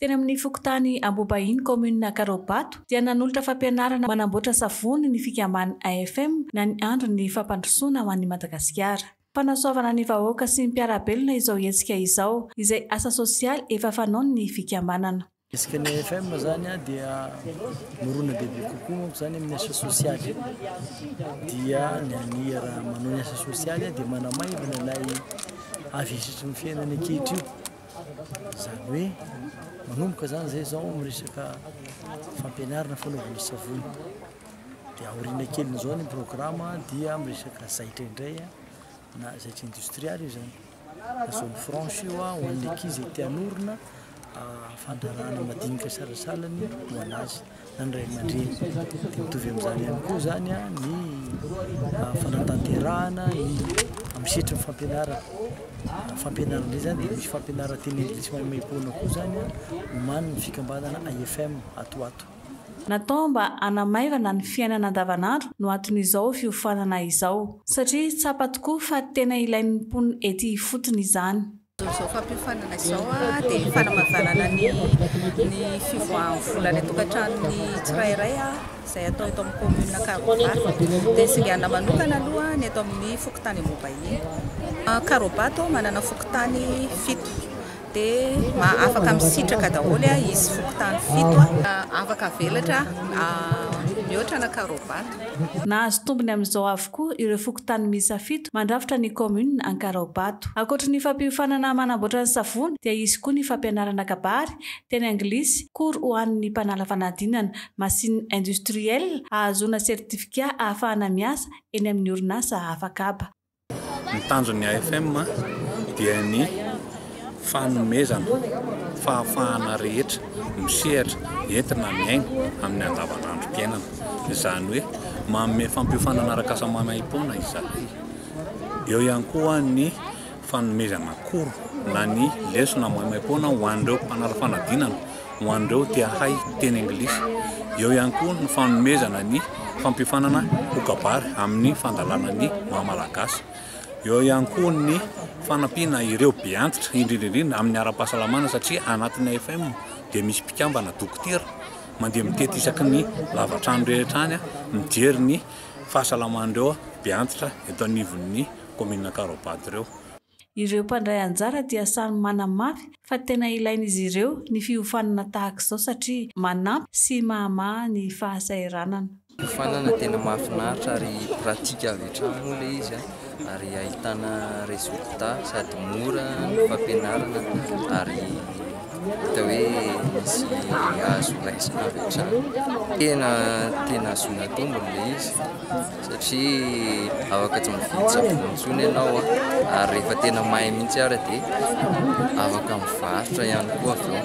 Teny amin'ny fokontany Ambobahiny, kaominina Ankarao-Bato dia nanolotra fampianarana manamboatra savony ny fikamban'ny AFM na ny Andry ny fampandrosoana ho an'i Madagasikara. Fanasoavana ny vahoaka sy ny mpiara-belona izao hetsika izao, izay asa sosialy efa fanaon'ny fikambanana. Isaky ny AFM izany dia mirona be be kokoa manko izany amin'ny asa sosialy dia ny an'i raha manao ny asa sosialy dia manamaivana ilay avesitry ny fiainana ankehitriny izany hoe manomboka izany izay izao amin'ny resaka fampianarana fanaovana savony dia aoriana kelin'izao ny programa dia amin'ny resaka zaitra indray na zaitra indostrialy io izany Zone franche io ho an'ny ankizy izay te hanorina fandraharahana madinika salasalany ho an'azy na ny ray aman-dreny. Dia mitovy amin'izany ihany koa izany ny fanatanterahana amin'ny sehatry ny fampianarana. Ny fampianarana indray izany dia misy fampianarana teny anglisy maimaimpoana koa izany omanin'ny fikambanana IFM ato ho ato. Natao mba hanamaivana ny fiainana andavanandro no aton'izao fiofanana izao. Satria tsapa tokoa fa tena ilain'ny mponina ety ifotony izany. Izao fampiofanana izao dia fanamavanana ny ny fivoahan'ny vola any an-tokantranon'ny tsirairay izay atao eto amin'ny commune Karobato. Dia singanina manokana aloha ny eto amin'ny fokontany Ambohibahiny. Karobato manana fokontany fito. Dia afaka misitraka daholo izy fokontany fito. Afaka avelatra mihoatra na Karaobato. Nahazo tombony amin'izao avokoa ireo fokontany miisa fito mandrafitra ny kaominina Ankaraobato. Ankoatry ny fampiofanana manamboatra ny savony dia hisy koa ny fampianarana kabary, teny anglisy, cours ho an'ny mpanala fanadinana, machine industrielle, ahazoana certificat ahafahana miasa eny amin'ny orinasa hafa kaba. Ny tanjon'ny AFM dia ny fanomezana fahafahana rehetra misehatra entina miaina amin'ny andavanandrom-piainana. Izany hoe manome fampiofanana arak'asa maimaim-poana izahay. Eo ihany koa ny fanomezana cours na ny lesona maimaim-poana ho an'ireo mpanara-fanadinana. ho an'ireo te hahay hiteny anglisy. Eo ihany koa ny fanomezana ny fampiofanana ho kabary amin'ny fandalana ny maha malagasy. Eo ihany koa ny fanampiana ireo be antitra indrindra indrindra amin'ny ara-pahasalamana satria anatin'ny AFM dia misy mpikambana dokotera mandeha mitety isaky ny lavatrano rehetra any mijery ny fahasalaman'ireo be antitra eto anivon'ny kaominina Ankarabado ireo. Ireo mpandray anjara dia samy manamafy fa tena ilain'izy ireo ny fiofanana tahaka izao satria manampy sy mahamaha ny fahasahiranana. Fiofanana tena mahafinaritra ary pratique avy hatrany moa ilay izy ary ahitana résultat sady mora ny fampianarana ary hita hoe misy azo raisina avy hatrany. Tena tena ahazoana tombony ilay izy. satria afaka tsy mividy savony intsony ianao ary rehefa tena mahay mihitsy ary dia afaka mivarotra ihany koa avy eo.